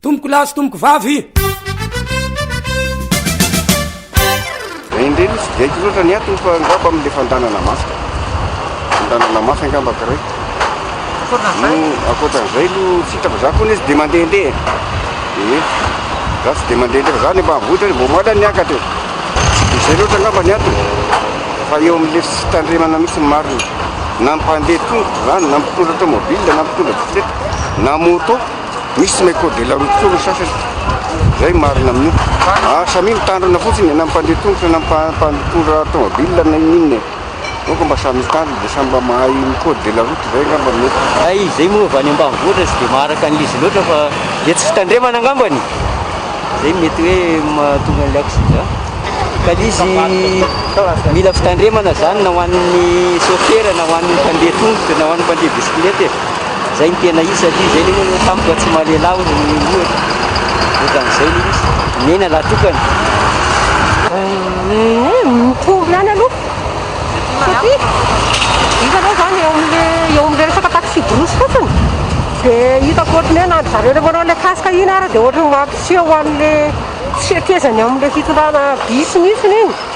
Tompoko lahy sy tompoko vavy. Indreny tsy dia haiko loatra ny antony fa angamba amin'ilay fandanana mafy. Fandanana mafy angamba kiray. Ankoatran'izay aloha tsy hita fa za koa izy dia mandehandeha. Ee. Za tsy dia mandehandeha fa za ny ambanivohitra vao maty aho niakatra e. Izay loatra angamba ny antony. Fa eo amin'ilay fitandremana mihitsy ny marina. Na ny mpandeha tongotra izany, na ny mpitondra tomobile, na ny mpitondra bisikileta, na moto. misy ny code de la route koa ny sasany, zay marina amin'io. Ah, samia mitandrina fotsiny, na mpandeha tongotra, na mpandotondra tomobile, na ininona e. Aoka mba samy mitandrina dia samy mba mahay ny code de la route zay angamba no mety. Hay izay moa avy any ambanivohitra tsy dia maharaka an'izy loatra fa dia tsy fitandremana angambany e. Zay no mety hoe mahatonga an'ilay accident. Ka ilay izy mila fitandremana zany na ho an'ny sôfera, na ho an'ny mpandeha tongotra, na ho an'ny mpandeha bisikileta e. Zay no tena izy satria zay le hoe tampoka tsy mahalelahy hono ny omby io e. Ohatran'izay le izy. Mihena lahy tokana. Mitovy ihany aloha satria izy aloha zany eo amin'le eo amin'le resaka taxi brousse fotsiny dia hitako ohatran'ny hoe na ry zareo le manao le casque iny ary dia ohatran'ny mampiseho an'le tsy fekezany amin'le fitondrana bus mihitsiny iny.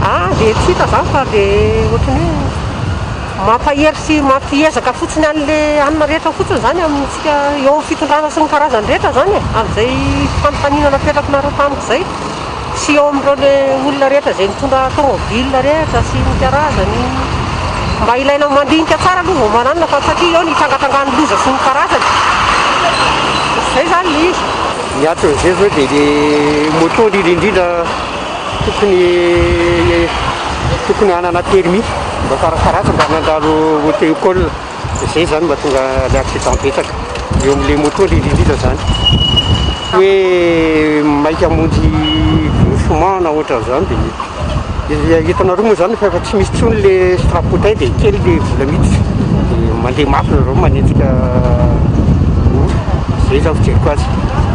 Aah dia tsy hita izany fa dia ohatran'ny hoe mampahery sy mampiezaka fotsiny an'ilay anona rehetra fotsiny izany amintsika eo amin'ny fitondrana sy ny karazany rehetra izany e, amin'izay fanontaniana napetrakinareo tamiko izay sy eo amin'ireo ilay olona rehetra izay nitondra tomobil rehetra sy ny karazany, mba ilaina mandinika tsara aloha vao mananona fa satria eo ny trangatrangan'ny loza sy ny karazany, izay izany ilay izy. Ny ato amin'izay izao dia ilay moto indrindra indrindra. tokony tokony hanana permis mba farafaharatra mba nandalo auto école zay zany mba tonga le accident betsaka eo amle moto le indrindra zany hoe maika hamonjy doucement na ohatran'zany de izy hitanareo moa zany fa efa tsy misy tsony le strapotay de kely le vola miditra de mandeha mafy nareo manenjika olo zay zany fijeriko azy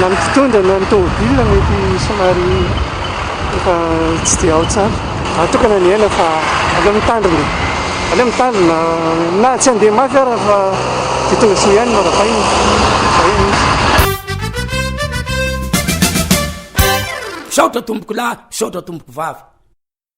na ny mpitondra na ny tômôbila mety somary efa tsy dia ao tsara. Raha toa ka nanihana fa aleo mitandrina, aleo mitandrina na tsy handeha mafy ara fa dia tonga soa ihany no arabaina, izay no izy. Misaotra tompokolahy, misaotra tompokovavy.